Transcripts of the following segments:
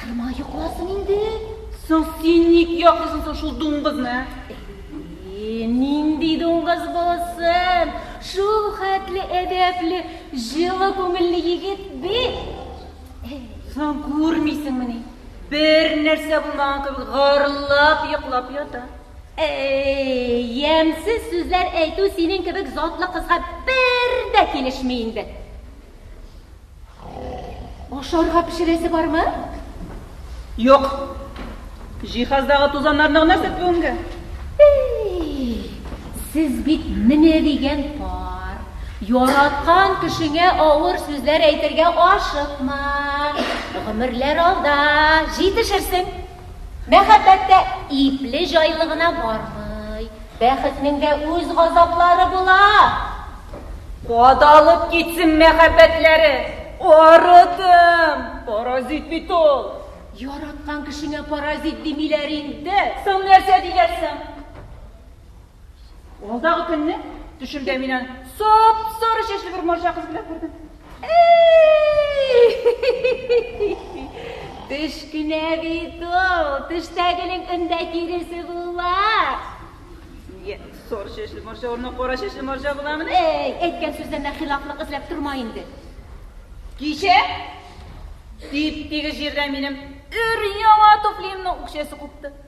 Кыймай йокласын инде. Соң син ник яклыйсың соң шул дуңгызны? Әйе, нинди дуңгыз булсын? Шул хәтле әдәпле, җылы күңелле егет бит. Соң күрмисеңмени? Бер нәрсә булмаган кебек гырлап йоклап ята. Әй, ямьсез сүзләр әйтү синең кебек затлы кызга бер дә килешми инде. Ашарга пешерәсе бармы? Юк. Җиһаздагы тузаннарны гына сөрт бүгенгә. Сез бит менә дигән пар. Яраткан кешеңә авыр сүзләр әйтергә ашыкма. Гомерләр алда, җитешерсең. Мәхәббәт тә ипле җайлы гына бармый. Бәхетнең дә үз газаплары була. Кадалып китсен мәхәббәтләре, арыдым! Паразит бит ул! Яраткан кешеңә паразит димиләр инде. Соң нәрсә диләр соң? Алдагы көнне төшемдә мин аны сап-сары чәчле бер марҗа кыз белән күрдем. Төш кенә бит ул, төштәгенең өндә киресе була. Нигә сары чәчле марҗа урынына кара чәчле марҗа буламыни? Әй, әйткән сүзләренә хилафлык эзләп торма инде. Кичә тип-тигез җирдә минем өр-яңа туфлиемнең үкчәсе купты.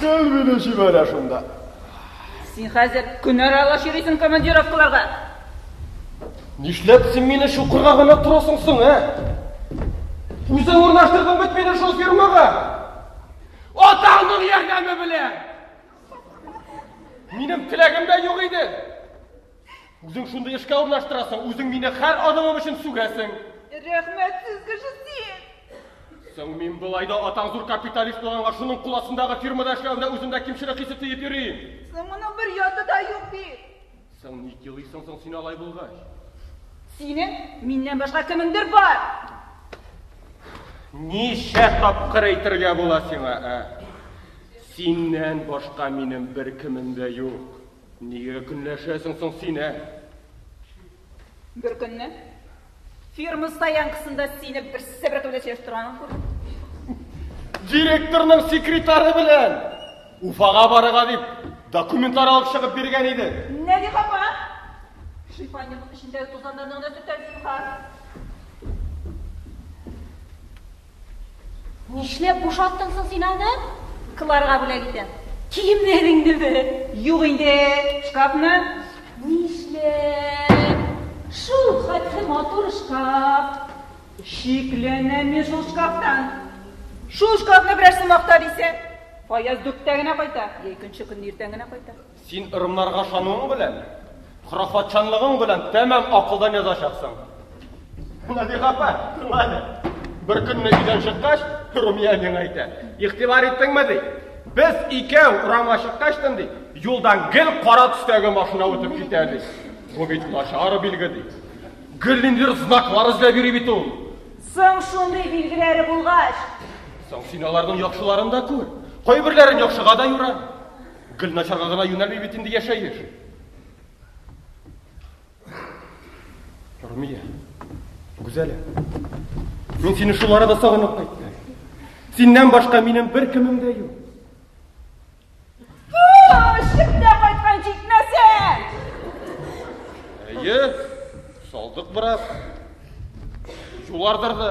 Гел мине җибәрә шунда. Син хәзер көн аралаш йөрисең командировкаларга. Нишләп син мине чукырга гына торасың соң, ә? Үзең урнаштырдың бит мине шул фирмага. Атаңның ярдәме белән! Минем теләгем дә юк иде. Үзең шундый эшкә урнаштырасың, үзең мине хәр адымым өчен сүгәсең. Рәхмәтсез кеше син! Соң мин былай да атаң зур капиталист булганга шуның кул астындагы фирмада эшләвемдә үземдә кимчелек хисе тыеп йөрим. Соң моның бер яты да юк бит. Соң ник елыйсың соң син алай булгач? Синең миннән башка кемеңдер бар. Ничә тапкыр әйтергә була сиңа, ә? Синнән башка минем бер кемем дә юк. Нигә көнләшәсең соң син, ә? Беркөнне фирма стоянкасында сине берсе бер кебек сөйләшеп торганын күрдем. Директорның секретары белән Уфага барырга дип документлар алып чыгып биргән иде. Нә ди хапа? Шифаниянең эчендәге тузаннарны гына сүтәрсең, хар. Нишләп бушаттың соң син аны? Кларга бүләк итәм. Киемнәреңне бе? Юк инде, шкафны. Нишләп? Шул хәтле матур шкаф. Шикләнәм мин шул шкафтан. Шул шкафны берәрсе макта дисә, Фаяз дүрттә генә кайта, я икенче көнне иртән генә кайта. Син ырымнарга ышануың белән, хорафатчанлыгың белән тәмам акылдан язачаксың. Нәбих апа, тыңла әле. Бер көнне өйдән чыккач, Румия миңа әйтә. Игътибар иттеңме, ди? Без икәү урамга чыккач, ди, юлдан гел кара төстәге машина үтеп китә, ди. Бу бит начар билге, ди. Гел ниндидер знаклар эзләп йөри бит ул. Соң шундый билгеләре булгач. Соң син аларның яхшыларын да күр. Кайберләрен яхшыга да юра. Гел начарга гына юнәлми бит инде яшәеш. Румия, Гүзәлә, мин сине шул арада сагынып кайттым. Синнән башка минем бер кемем дә юк. Шикдә кайткан җитмәсә! Әйе, салдык бераз. Юлардыр да.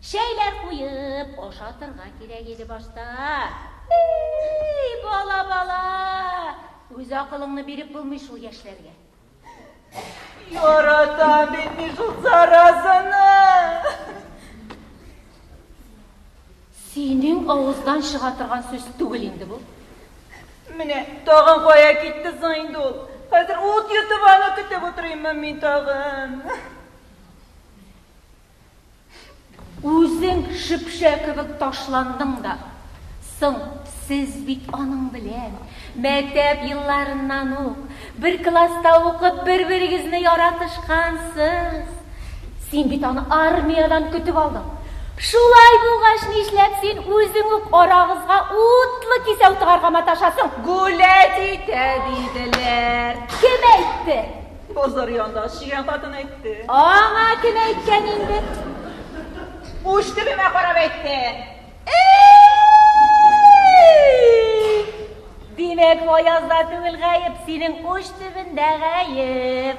Чәйләр куеп ашатырга кирәк иде башта. Эй, бала, бала! Үз акылыңны биреп булмый шул яшьләргә. Яратам бит мин шул заразаны. Синең авыздан чыга торган сүз түгел инде бу. Менә тагын кая китте соң инде ул? Хәзер ут йотып аны көтеп утырыйммы мин тагын? Үзең шепшә кебек ташландың да. Соң, сез бит аның белән мәктәп елларыннан ук бер класста укып бер-берегезне яратышкансыз. Син бит аны армиядән көтеп алдың. Шулай булгач, нишләп син үзең үк арагызга утлы кисәү тыгарга маташасың? Гүләдидә диделәр. Кем әйтте? Базар янында чигән хатын әйтте. Аңа кем әйткән инде? Уч төбемә карап әйтте. Димәк, Аязда түгел гаеп, синең уч төбендә гаеп.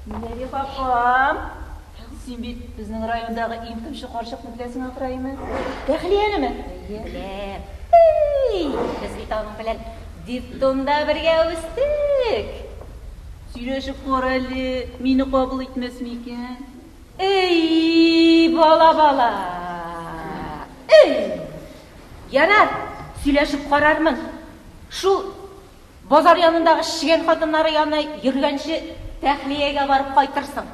Нәби хакам, син бит безнең райондагы иң тымчы карчыкны беләсең ахраймы? Тәхлиянеме? Беләм. Эй, без бит аның белән диптонда бергә үстек. Сөйләшеп кара әле, мине кабул итмәс микән? Эй, бала-бала! Эй! Ярар, сөйләшеп карармын. Шул базар янындагы чегән хатыннары янына йөргәнче Тәхлиягә барып кайтырсың.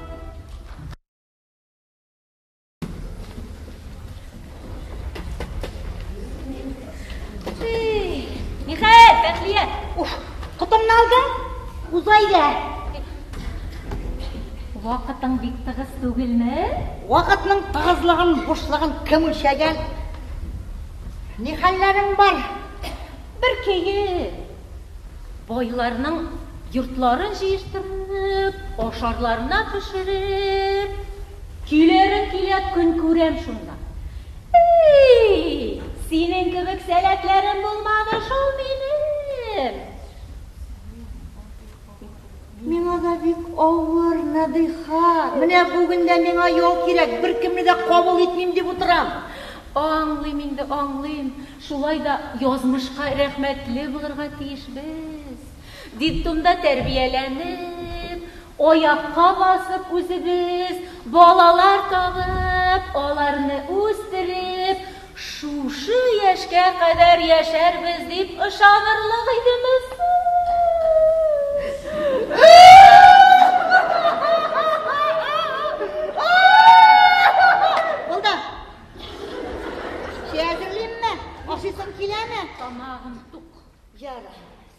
Михаил, Бәхлия, уф, котыңны алдың? Узайда. Вакытың бик тыгыз түгелме? Вакытның тыгызлыгын, бушлыгын кем үлчәгән? Ни хәлләрең бар? Бер көе. Байларның йортларын җыештырып, ашарларына пешереп. Килерем килә, көн күрәм шунда. Ий, синең кебек сәләтләрем булмады шул минем. Миңа да бик авыр, Нәдыйха. Менә бүген дә миңа ял кирәк, беркемне дә кабул итмим дип утырам. Аңлыйм инде, аңлыйм. Шулай да язмышка рәхмәтле булырга тиешбез. Детдомда тәрбияләнеп, аякка басып үзебез балалар табып, аларны үстереп, Шушы яшькә кадәр яшәрбез дип ышанырлык идеме соң?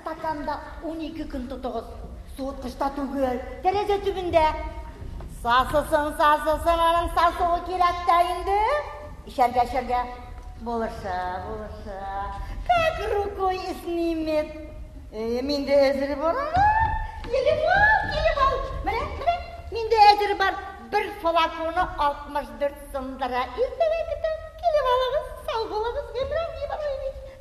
Стаканда унике көн тотыгыз. Суыткычта түгел, тәрәзә төбендә. Сасысын, сасысын, аның сасуы кирәк тә инде. Эчәргә, эчәргә. Булыша, булыша. Как рукой снимет. Өем инде әзер бар ана. Килеп ал, килеп ал. Менә, менә, миндә әзер бар. Бер флаконы 64 сумдыра. Иртәгә көтәм. Килеп алыгыз, сау булыгыз, Гыймран Ибраһимович.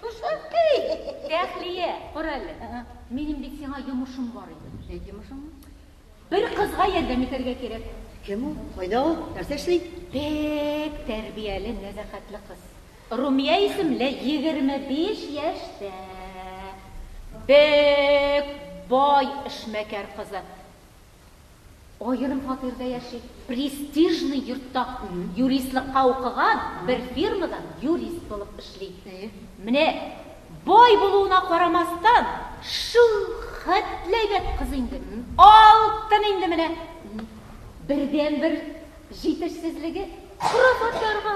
Шушы. Тәхлия, кара әле. Минем бит сиңа йомышым бар иде. Әйт йомышыңны. Бер кызга ярдәм итәргә кирәк. Кем ул? Кайда ул? Нәрсә эшли? Бик тәрбияле, нәзәхәтле кыз. Румия исемле, егерме биш яшьтә. Бик бай эшмәкәр кызы. Аерым фатирда яши. Престижный йортта юристлыкка укыган, бер фирмада юрист булып эшли. Менә бай булуына карамастан, шул хәтле әйбәт кыз инде, алтын инде менә. Бердәнбер җитешсезлеге, пропаторга,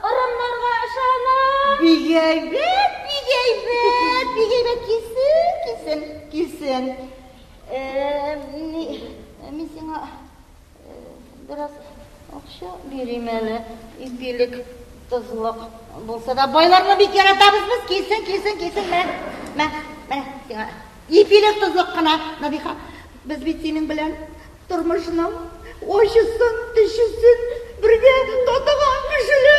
ырымнарга ышана. Бик әйбәт, бик әйбәт, бик әйбәт, килсен, килсен, килсен. Мин сиңа бераз акча бирим әле. Ипилек тозлык булса да байларны бик яратабыз без. Килсен, килсен, килсен. Мә, мә, мә сиңа. Ипилек тозлык кына, Набиха. Без бит синең белән тормышның очысын, төшесен бергә татыган кешеләр.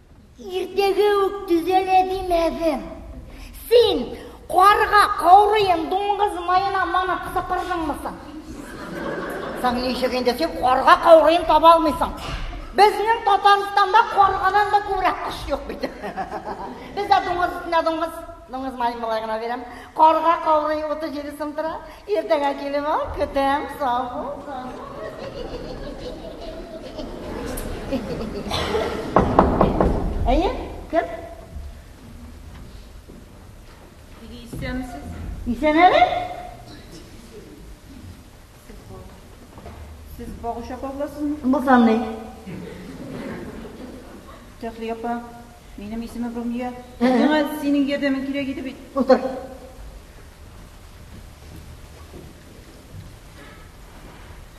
Иртәгә үк төзәлә димәдем. Син карга, каурыен, дуңгыз маена манап сыпырдыңмы соң? Соң ничек инде син карга каурыен таба алмыйсың? Безнең Татарстанда каргадан да күбрәк кош юк бит. Бездә дуңгыз өстенә дуңгыз, дуңгыз маен болай гына бирәм. Карга каурые 37 сум тора. Иртәгә килеп ал, көтәм, сау бул. Әйе, кем? Теге исәнмесез? Исән әле? Сез багуча кагыласызмы? Булсам ни? Тәхлия апа. Минем исемем Румия. Миңа синең ярдәмең кирәк иде бит. Утыр.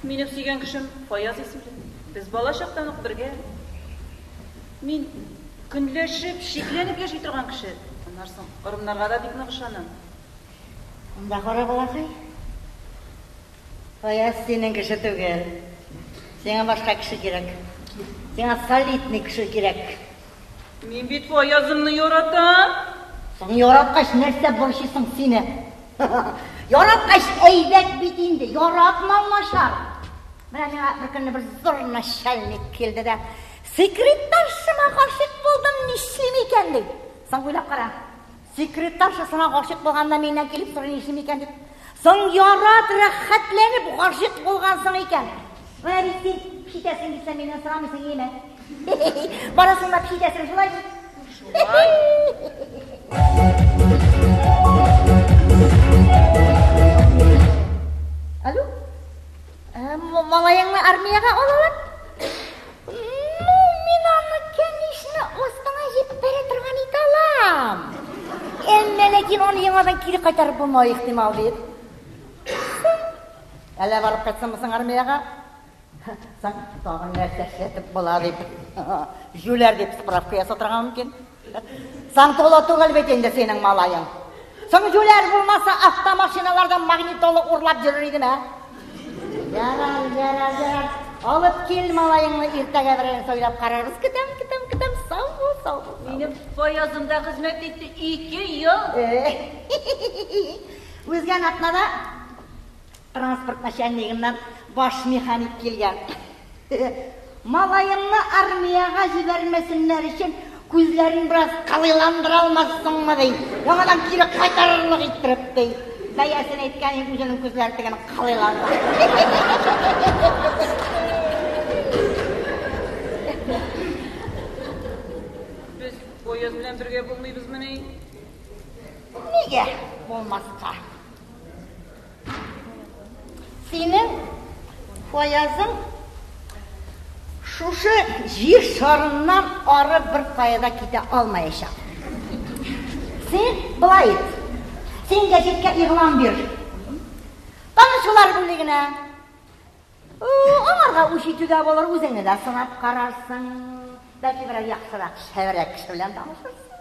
Минем сөйгән кешем Фаяз исемле. Без бала чактан ук бергә. Мин көнләшеп, шикләнеп яши торган кеше. Аннан соң ырымнарга да бик нык ышанам. Монда кара балакай. Фаяз синең кеше түгел. Сиңа башка кеше кирәк. Сиңа солидный кеше кирәк. Мин бит Фаязымны яратам. Соң яраткач нәрсә борчыйсың сине? Яраткач әйбәт бит инде, яратмау начар. Менә миңа бер көнне бер зур начальник килде дә, секретаршыма гашыйк булдым, нишлим икән ди. Соң уйлап кара. Секретаршасына гашыйк булганда миннән килеп сорый нишлим микән дип. Соң ярат, рәхәтләнеп гашыйк булган соң икән. Менә бит син пишетәсең дисә миннән сорамыйсың яме. Барасың да пишетәсең шулай. Шулай. Алло? Малаеңны армиягә алалар? Ну, мин аны, конечно, астыңа җип бәрә торган ит алам. Әмма ләкин аны яңадан кире кайтарып булмау ихтимал бит. Әллә барып кайтсынмы соң армиягә? Соң тагын нәрсә эшләтеп була дип, җүләр дип справка ясатырга мөмкин. Сантола түгел бит инде синең малаең. Соң җүләр булмаса, автомашиналардан магнитолы урлап йөрер идем, ә? Ярар, ярар, ярар. Алып кил малаеңны иртәгә берәр сойлап карарбыз. Көтәм, көтәм, көтәм. Сау бул, сау бул. Минем поездымда хезмәт итте ике ел. Э. Үзгә атнада Транспорт начальнигыннан баш механик килгән. Малаеңны армиягә җибәрмәсеннәр өчен күзләрен бераз кылыйландыра алмассыңмы, ди. Яңадан кире кайтарырлык иттереп, ди. Бәясен әйткәнең үзенең күзләре тегене кылыйландыра. Без поезд белән бергә булмыйбызмыни? Нигә булмаска? Синең фаязың шушы җир шарыннан ары бер каяда китә алмаячак. Син былай ит. Син газетка игълан бир. Танышулар бүлегенә. Аңарга үч итүгә булыр, үзеңне дә сынап карарсың. Бәлки берәр яхшырак, шәвәрәк кеше белән танышырсың.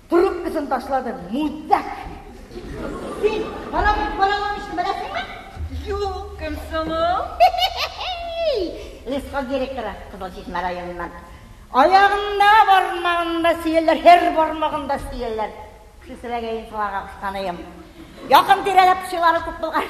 Трубкасын ташлады, мудак! Син параллель параллель беләсеңме? Юк, кем соң? Лесхоз директоры Кызыл Чишмә районыннан. Аягында бармагында сөялләр, һәр бармагында сөялләр. Кешесерәгәен кылага кысканыйм. Якын тирәләп пычылары күп булган.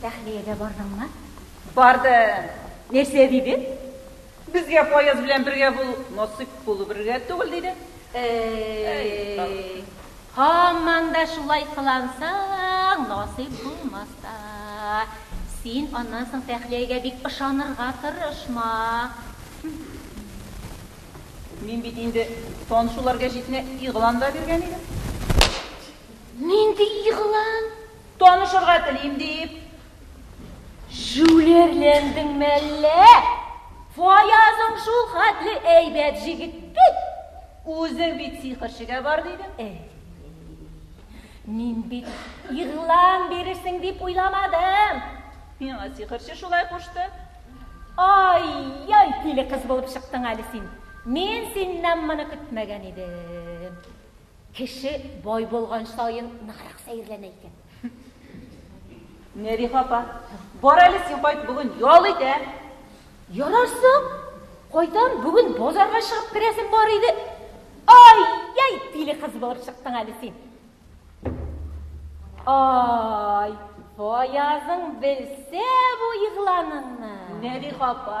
Тәхлиягә бардыңмы? Бардым. Нәрсә диде? Безгә Фаяз белән бергә булу насыйп булу бергә түгел диде. Әй, һаман да шулай кылансаң, насыйп булмас та. Син аннан соң Тәхлиягә бик ышанырга тырышма. Мин бит инде танышуларга җитмә игълан да биргән идем. Нинди игълан? Танышырга телим дип. Җүлерләндең мәллә? Фаязың шул хәтле әйбәт җигет бит. Үзең бит сихерчегә бар дидең. Әй. Мин бит игълан бирерсең дип уйламадым. Миңа сихерче шулай кушты. Ай, яй тиле кыз булып чыктың әле син. Мин синнән моны көтмәгән идем. Кеше бай булган саен ныграк сәерләнә икән. Нәбих апа, бар әле син кайт, бүген ял итә. Ярасы, кайтам, бүген базарга чыгып керәсем бар иде. Ай, яй, тиле кыз булып чыктың әле син. Ай, Фаязың белсә бу игъланыңны. Нәбих апа,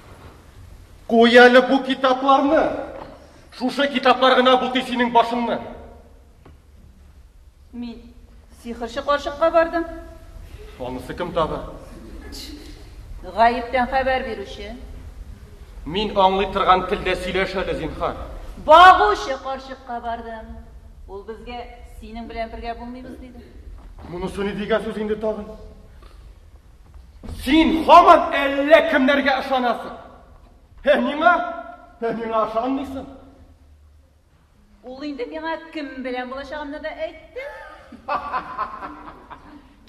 Куй әле бу китапларны! Шушы китаплар гына бутый синең башыңны. Мин сихырчы карчыкка бардым. Анысы кем тагы? Гаептән хәбәр бирүче. Мин аңлый торган телдә сөйләш әле, зинхар. Багучы карчыкка бардым. Ул безгә синең белән бергә булмыйбыз диде. Монысы ни дигән сүз инде тагын? Син һаман әллә кемнәргә ышанасың. Һә миңа? Һә миңа ышанмыйсың? Ул инде миңа кем белән булачагымны да әйтте.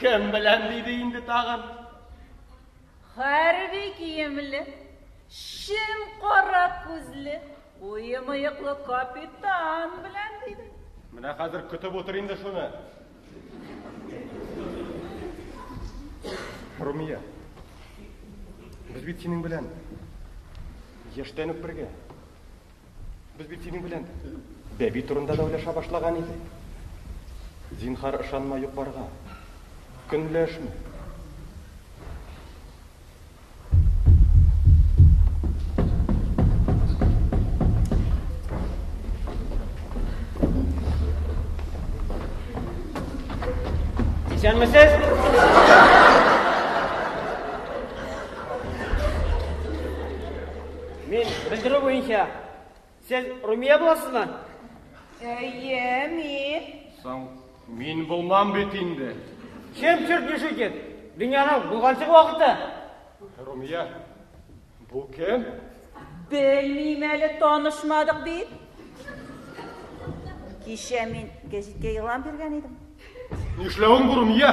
Кем белән диде инде тагын? Хәрби киемле, шем кара күзле, уемыеклы капитан белән диде. Менә хәзер көтеп утыр инде шуны. Румия, без бит синең белән яшьтән үк бергә. Без бит синең белән бәби турында да уйлаша башлаган идек. Зинхар ышанма юк барга. Көнләшмә. Исәнмесез? Мин белдерү буенча Сез Румия буласызмы? Әйе, мин. Соң мин булмам бит инде. Чем черт не шутит? Дөньяның булганчык вакыты. Румия, бу кем? Белмим әле, танышмадык бит. Кичә мин гәҗиткә игълан биргән идем. Нишләвең бу, Румия?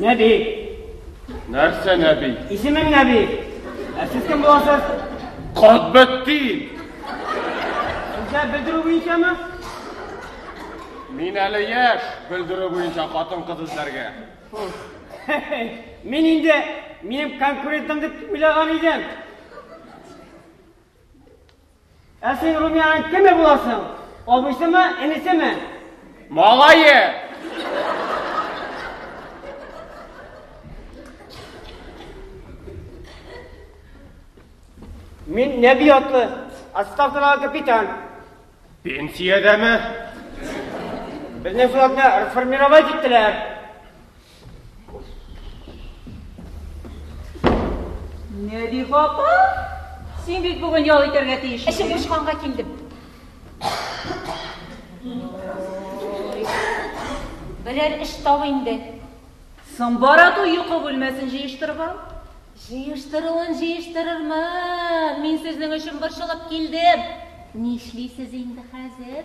Нәби. Нәрсә Нәби? Исемең Нәби. Ә сез кем буласыз? Катбәттин. Сезгә белдерү буенчамы? Мин әле яшь, белдерү буенча хатын-кыз эзләргә. Мин инде минем конкурентым дип уйлаган идем. Ә син Румиянең кеме буласың? Абыйсымы, энесеме? Малае! Мин нәби атлы, отставкадагы капитан. Пенсиядәме? Безнең флотны реформировать иттеләр. Нәби апа, син бит бүген ял итәргә тиеш. Эшем бушканга килдем. Берәр эш тап инде. Соң бара ту йокы бүлмәсен җыештырып ал. Җыештыруын җыештырырмын. Мин сезнең өчен борчылып килдем. Нишлисез инде хәзер?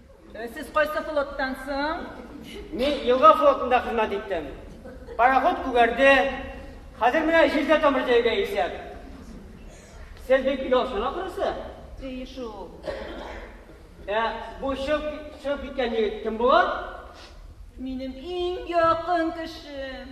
Сез кайсы флоттан соң? Мин елга флотында хезмәт иттем. Пароход күгәрде. Хәзер менә җирдә тамыр җәйгә исәп. Сез бик ялчан ахрысы? Ди шул. Ә бу чыгып чыгып киткән егет кем була? Минем иң якын кешем.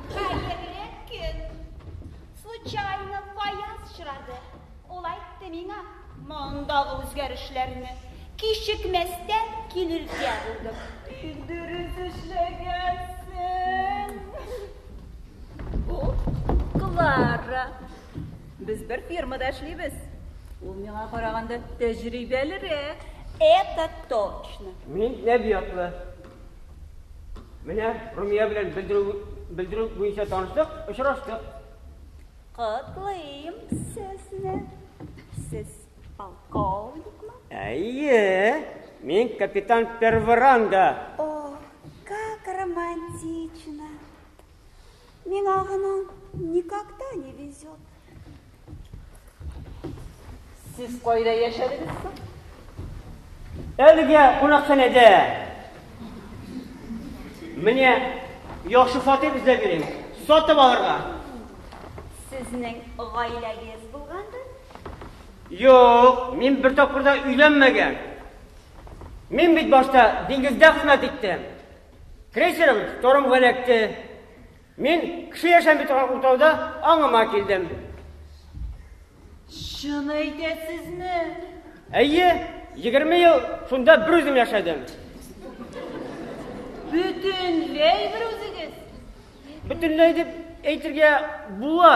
Хәерле көн! Случайно Фаяз очрады. Ул әйтте миңа, мондагы үзгәрешләрне кичекмәстән килергә булдым. Бик дөрес эшләгәнсең. Бу Клара. Без бер фирмада эшлибез. Ул миңа караганда тәҗрибәлерәк. Это точно. Мин нәби атлы. Менә Румия белән белдерү белдерү буенча таныштык, очраштык. Котлыйм сезне. Сез полковникмы? Әйе, мин капитан Перворанда. О, как романтично. Миңа гына никогда не везет. Сез кайда яшәдегез соң? Әлегә кунакханәдә. Менә яхшы фатир эзләп йөрим. Сатып алырга. Сезнең гаиләгез булгандыр? Юк, мин бер тапкыр да өйләнмәгән. Мин бит башта диңгездә хезмәт иттем. Крейсерым тормга эләкте. Мин кеше яшәми торган утрауда аңыма килдем. Чын әйтәсезме? Әйе, егерме ел шунда бер үзем яшәдем. Бөтенләй бер үзегез? Бөтенләй дип әйтергә була.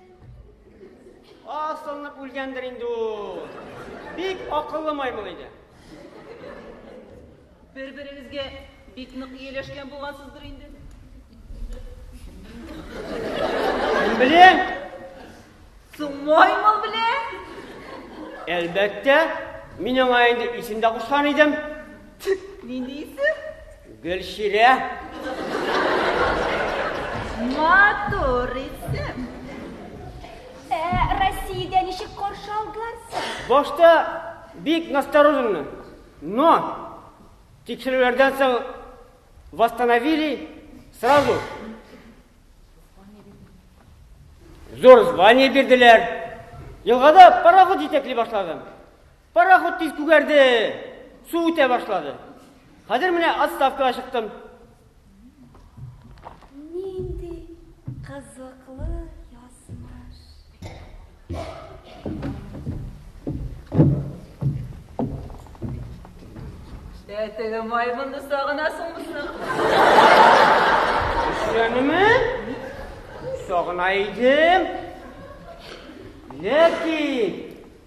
Асылынып үлгәндер инде ул. Бик акыллы маймыл иде. Бер-берегезгә бик нык ияләшкән булгансыздыр инде. Беләм. Соң маймыл белән? Әлбәттә, мин аңа инде исем дә кушкан идем. Мин дисең? Гөлчирә. Матур исем. Ә Россиядә ничек каршы алдылар? Башта бик настороженно. Но тикшерүләрдән соң восстановили сразу. Зур звание бирделәр. Елгада пароход җитәкли башладым. Пароход тиз күгәрде, су үтә башлады. Хәзер менә отставкага чыктым. Нинди кызыклы язмыш. Ә теге маймынны сагынасыңмы? Исәнме? Сагына идем. Ләкин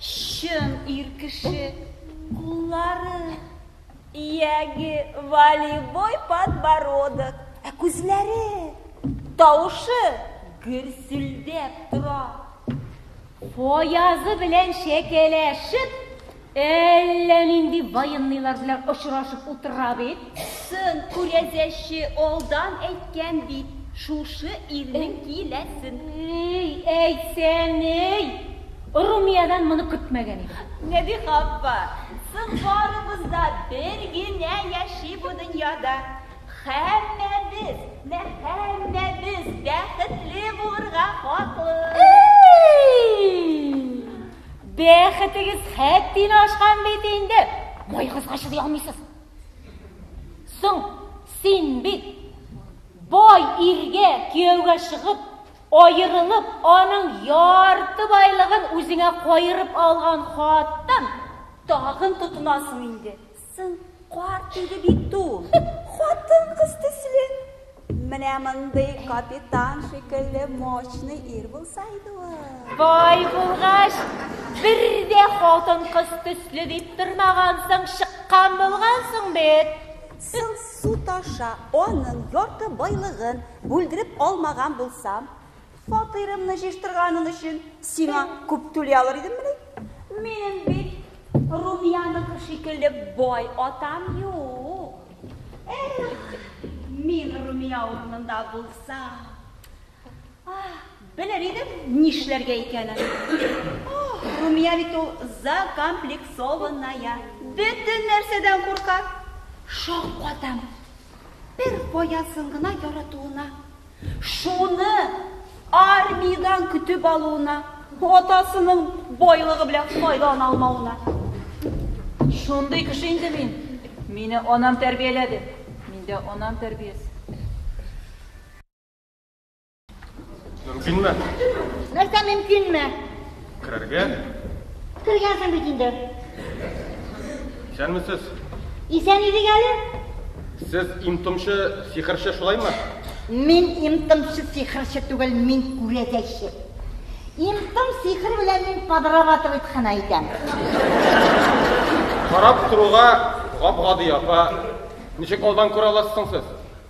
Чын ир кеше куллары. Ияге, волейбой подбородок. Ә күзләре, тавышы гөрселдәп тора. Фаязы белән чәкәләшеп, әллә нинди военныйлар белән очрашып утыра бит. Сын күрәзәче алдан әйткән бит, шушы ирнең киләсен. Әй, әйтсәң ни? Румиядән моны көтмәгән идем. Нәбиха апа, соң барыбыз да бер генә яши бу дөньяда. Һәммәбез, нә һәммәбез бәхетле булырга хаклы. Эй! Бәхетегез хәттин ашкан бит инде. Байыгызга чыдый алмыйсыз. Соң син бит бай иргә кияүгә чыгып, Аерылып, аның ярты байлыгын үзеңә каерып алган хатын тагын тотынасың инде. Соң карт иде бит ул. Хатын кыз төсле. Менә мондый капитан шикелле мощный ир булса иде ул. Бай булгач, бер дә хатын кыз төсле дип тормагансың, чыккан булгансың бит. Соң су таша, аның ярты байлыгын Бүлдереп алмаган булсам, фатирымны җыештырганың өчен сиңа күп түли алыр идеммени? Минем бит Румияныкы шикелле бай атам юк. Эх, мин Румия урынында булсам, белер идем, нишләргә икәнен. Румия бит ул закомплексованная, бөтен нәрсәдән курка. Шаккатам. Бер фаясын гына яратуына, шуны армиядән көтеп алуына, атасының байлыгы белән файдалана алмавына. Шундый кеше инде мин. Мине анам тәрбияләде. Миндә анам тәрбиясе. Мөмкинме? Нәрсә мөмкинме? Керергә? Кергәнсең бит инде. Исәнмесез. Исән идек әле. Сез имтымчы сихерче шулаймы? Мин имтымчы сихерче түгел, мин күрәзәче. Имтым сихер белән мин подрабатывать хана итәм. Карап торуга гап-гади апа. Ничек алдан күрә аласыз соң сез?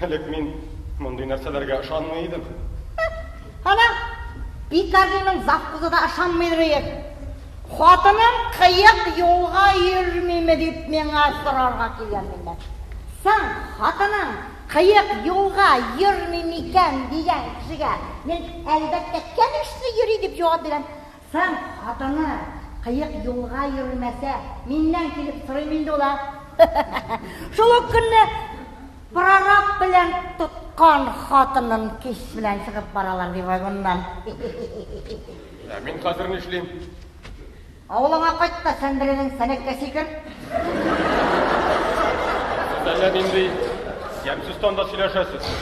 Элек мин мондый нәрсәләргә ышанмый идем. Ана, Пикардиның завхозы да ышанмыйдыр өер. Хатыным кыек юлга йөрмиме дип миңа сорарга килгән миннән. Соң, хатының кыек юлга йөрми микән дигән кешегә мин, әлбәттә, кәлишле йөри дип җавап бирәм. Соң, хатыны, кыек юлга йөрмәсә, миннән килеп сорыйм инде ул, ә? Шул ук көнне прораб белән тоткан хатынын кич белән чыгып баралар, ди, вагоннан. Ә мин хәзер нишлим? Авылыңа кайт та сән беренең сәнәккә сикер. Сез әллә нинди ямьсез тонда сөйләшәсез.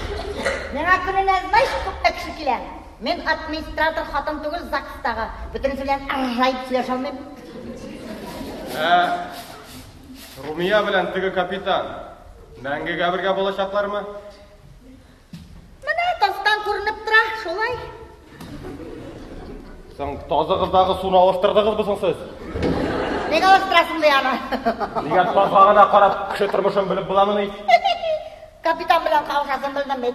Миңа көненә, знаешь, күпме кеше килә? Мин администратор хатын түгел ЗАГСтагы. Бөтенесе белән ыржаеп сөйләшә алмыйм. Ә Румия белән теге капитан мәңгегә бергә булачаклармы? Менә тастан күренеп тора, шулай. Соң тазыгыздагы суны алыштырдыгызмы соң сез? Нигә алыштырасың ди аны? Нигә тазга гына карап, кеше тормышын белеп буламыни? Капитан белән кавышасын белдем бит.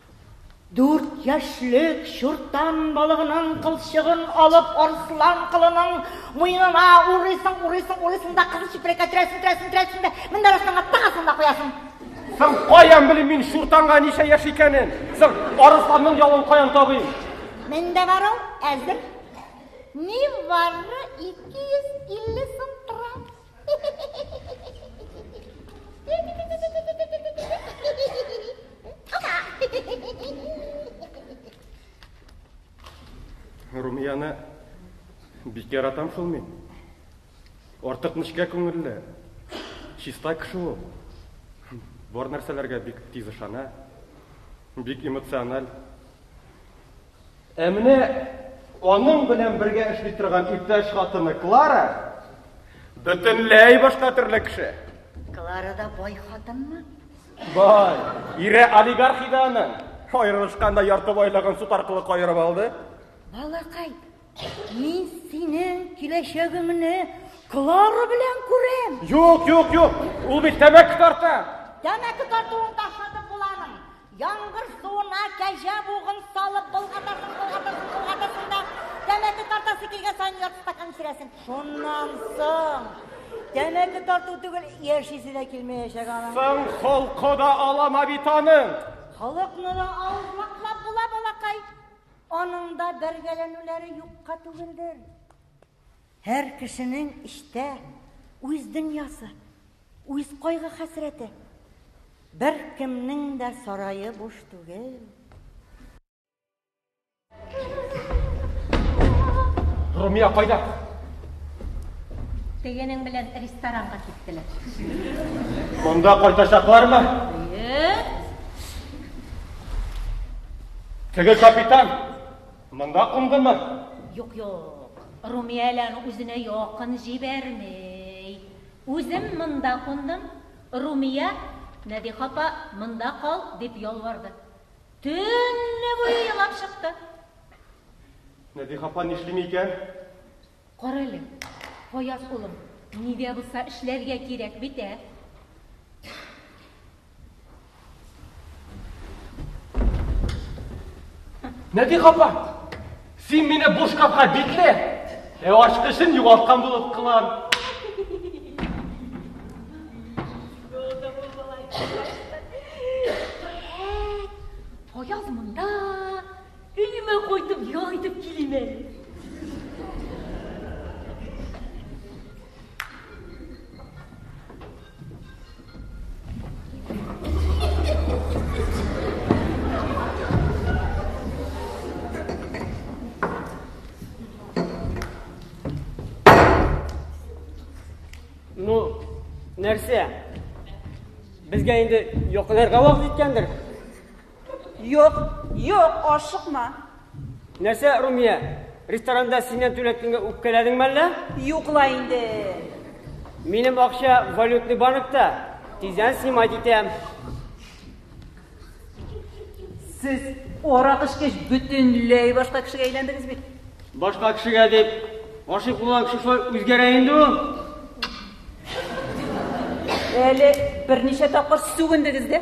Дүрт яшьлек чуртан балыгының кылчыгын алып арслан кылының муенына урыйсың, урыйсың, урыйсың да кызыл чүпрәккә төрәсең, төрәсең, төрәсең дә менә арысланга тагасың да куясың. Соң каян белим мин чуртанга ничә яшь икәнен? Соң арысланның ялын каян табыйм? Мендә бар ул, әзер. Ни бары 250 сум тора. Румияны бик яратам шул мин. Артык нечкә күңелле. Чиста кеше ул. Бар нәрсәләргә бик тиз ышана. Бик эмоциональ. Ә менә аның белән бергә эшли торган иптәш хатыны Клара бөтенләй башка төрле кеше. Клара да бай хатынмы? Бай. Ире олигарх иде аның. Аерылышканда ярты байлыгын суд аркылы каерып алды. Балакай, Мин синең киләчәгеңне Клара белән күрәм. Юк, юк, юк. Ул бит тәмәке тарта. Тәмәке тартуын ташладым буланың. Яңгыр суына кәҗә бугын салып болгатасың, болгатасың, болгатасың да тәмәке тартасы килгән саен ярты стакан эчерәсең. Шуннан соң тәмәке тарту түгел, яшисе дә килмәячәк аның. Соң холкы да алама бит аның. Холыкны да авызлаклап була, балакай. Аның да бәргәләнүләре юкка түгелдер. Һәр кешенең эчтә үз дөньясы, үз кайгы-хәсрәте. Беркемнең дә сарае буш түгел. Румия кайда? Тегенең белән ресторанга киттеләр. Монда кайтачаклармы? Теге капитан монда кундымы? Юк, юк. Румияләне үзенә якын җибәрмей. Үзем монда кундым. Румия, Нәдих апа, монда кал, дип ялварды. Төнне буе елап чыкты. Нәдих апа нишлим икән? Карале, Гаяз улым, ни дә булса эшләргә кирәк бит, ә? Нәти капа, син мине буш капка бикле, ә ачкычын югалткан булып кылан. Гаяз монда, Өемә кайтып ял итеп килим әле. нәрсә? Безгә инде йокларга вакыт җиткәндер. Юк, юк, ашыкма. Нәрсә, Румия, ресторанда синнән түләткәнгә үпкәләдеңме әллә? Юк ла инде. Минем акча валютный банкта. Тиздән снимать итәм. Сез арак эчкәч бөтенләй башка кешегә әйләндегез бит. Башка кешегә дип гашыйк булган кеше шулай үзгәрә инде ул. Әле берничә тапкыр сүгендегез дә.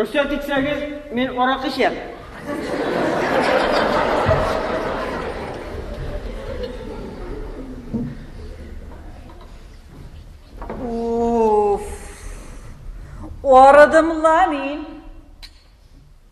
Рөхсәт итсәгез, мин арак эчәм. Уф. Арыдым ла мин.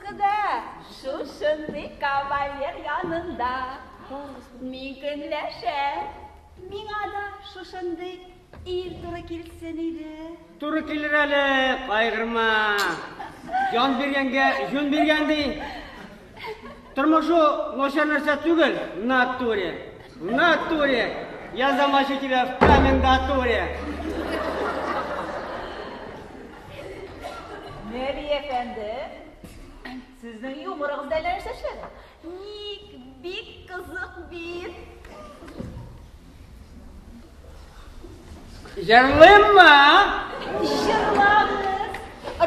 Кыда, шушындый кавалер янында ни көнләшә? Миңа да шушындый ир туры килсен иде. Туры килер әле, кайгырма. Җан биргәнгә җүн биргән ди. Тормышу начар нәрсә түгел, натуре. Натуре. Я замочу тебя в комендатуре. Нәби әфәнде, сезнең юморыгыз әллә нәрсә эшләде. Ник бик кызык бит. Җырлыйммы? Җырлагыз.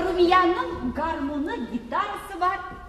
Румиянең гармуны, гитарасы бар.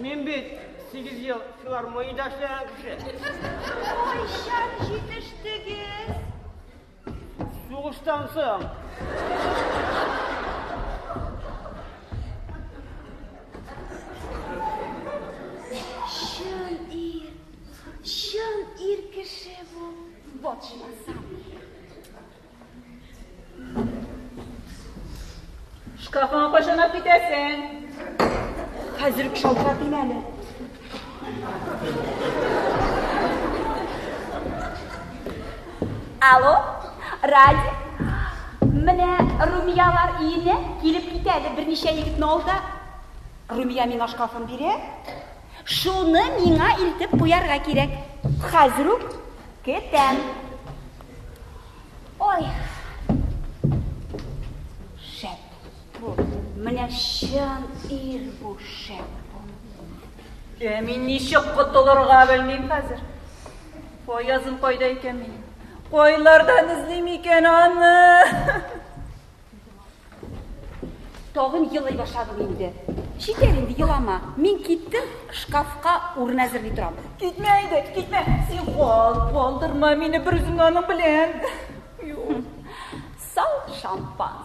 Мин бит сигез ел филармониядә эшләгән кеше. Кайчан җитештегез? Сугыштан соң. Чын ир, чын ир кеше бу, батшмаса. Шкафыңа кайчан алып китәсең? Хәзер үк шалтыратыйм әле. Алло, Ради. Менә Румиялар иене килеп китә әле берничә егетне алда. Румия миңа шкафын бирә. Шуны миңа илтеп куярга кирәк. Хәзер үк кетәм. Ой. Шәп бу. Менә чын ир бу шәп бу. Ә мин ничек котылырга белмим хәзер. Фаязым кайда икән минем? Кайлардан эзлим икән аны? Тагын елый башладым инде. Җитәр инде, елама. Мин киттем, шкафка урын әзерли торам. Китмә инде, китмә. Син кал, калдырма мине бер үзең аның белән. Сау шампан.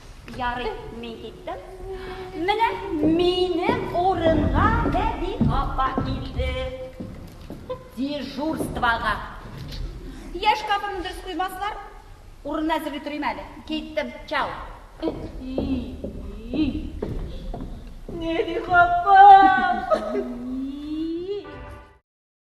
Ярый, мин киттем. Менә минем урынга Бәби апа килде. Дежурствога. Яшь капымны дөрес куймаслар, урынны әзерли торыйм әле. Киттем, чау. Нәди апам!